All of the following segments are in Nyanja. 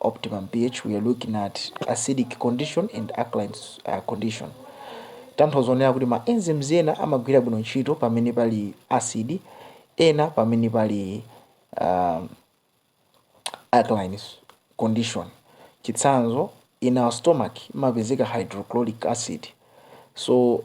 Optimum pH, we are looking at acidic condition and alkaline condition tanthauzo kunena kuti ma enzymes ena amagwira bwino ntchito pamene pali acid ena pamene pali um, alkaline condition chitsanzo in our stomach imapezeka hydrochloric acid so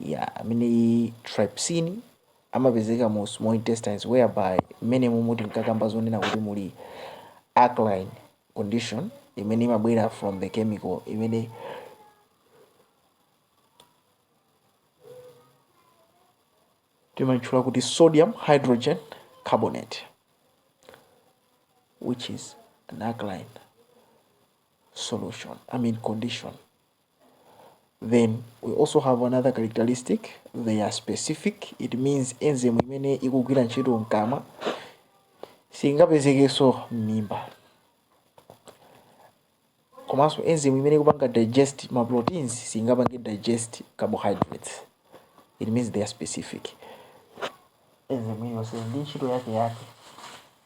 ya ameneyi trypsin amapezeka mu small intestines whereby mmenemu mu tinkakamba zonena kuti muli alkaline condition imene imabwera from the chemical imene timatchula kuti sodium hydrogen carbonate which is an alkaline solution i mean condition then we also have another characteristic they are specific it means enzyme imene ikugwira ntchito mkamwa singapezekenso m'mimba komanso enzyme imene ikupanga digest ma proteins singapange digest carbohydrates it means they are specific enzyme iliyonse ndi ntchito yake yake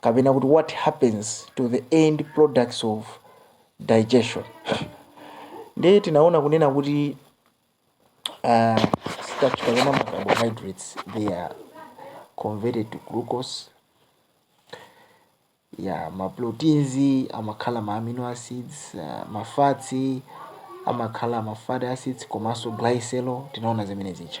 kapena kuti what happens to the end products of digestion ndiye tinaona kunena kuti uh, starch kapena ma carbohydrates they are converted to glucose ya maproteins amakhala ma amino acids uh, mafats amakhala ma fatty acids komanso glycerol tinaona zimene zicha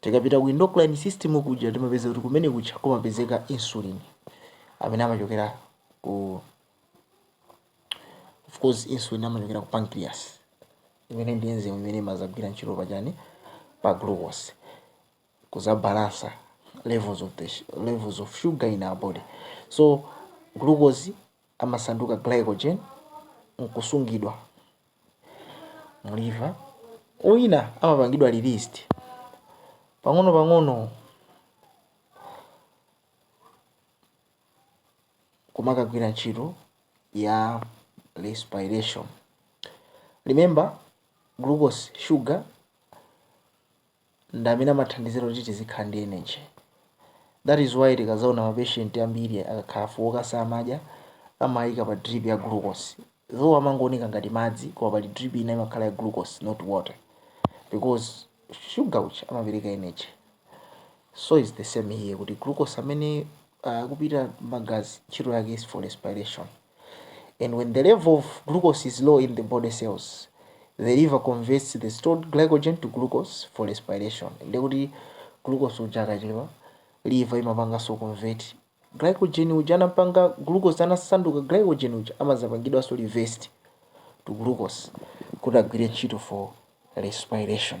Tikapita ku endocrine system kuja timapeza kuti kumene kuja kumapezeka insulin amene amachokera ku of course insulin amachokera ku pancreas imene ndi enzyme imene imazagwira ntchito pachani pa glucose kuzabalansa levels of the sh- levels of sugar in our body so glucose amasanduka glycogen nkusungidwa mu liver wina amapangidwa released pang'ono pang'ono kumakagwira ntchito ya respiration remember glucose sugar ndi amene amathandizira kuti tizikhala ndi energy that is why tikazaona ma patient ambiri akakhala ofooka samadya amaika pa drip ya glucose though amangooneka ngati madzi koma pali drip ina imakhala ya glucose not water because sugar ndi amapereka energy so it's the same here kuti glucose amene akupita uh, magazi ntchito yake is for respiration And when the level of glucose is low in the body cells, the liver converts the stored glycogen to glucose for respiration. Ndiye kuti glucose uja akachepa, liver imapanganso convert glycogen uja anapanga glucose anasanduka glycogen uja amazapangidwanso reversed to glucose kuti agwire ntchito for respiration.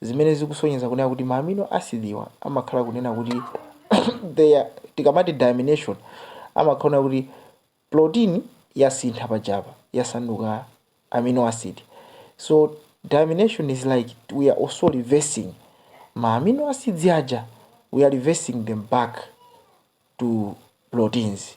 zimene zikusonyeza kunena kuti ma amino acid-wa amakhala kunena kuti they are tikamati deamination amakhala kuti protein yasintha pajapa yasanduka amino acid so deamination is like we are also reversing ma amino acids aja we are reversing them back to proteins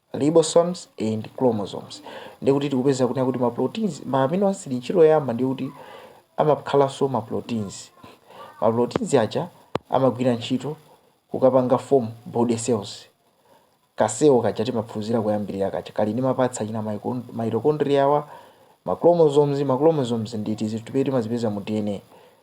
ribosomes and chromosomes ndiye kuti tikupeza kuti akuti ma proteins ma amino acid ntchito yoyamba ndiye kuti amakhalanso ma proteins ma proteins aja amagwira ntchito kukapanga form body cells ka cell kaja timaphunzira kuyambirira kaja kali ndi ma parts achina mitochondria awa ma chromosomes ma chromosomes ndi tizinthu timene timazipeza mu dna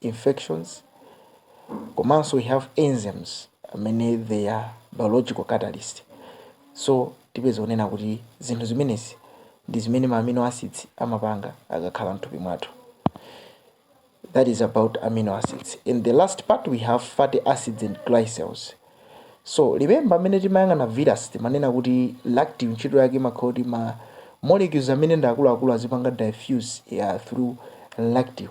infections. Komanso we have enzymes amene they are biological catalyst. So tipeza kunena kuti zinthu zimenezi ndi zimene ma amino acids amapanga akakhala m'thupi mwathu. That is about amino acids. In the last part we have fatty acids and glycerols. So remember mmene timayang'ana villus timanena kuti lacteal ntchito yake imakhala kuti ma molecules amene ndi aakuluakulu azipanga diffuse yeah, through lacteal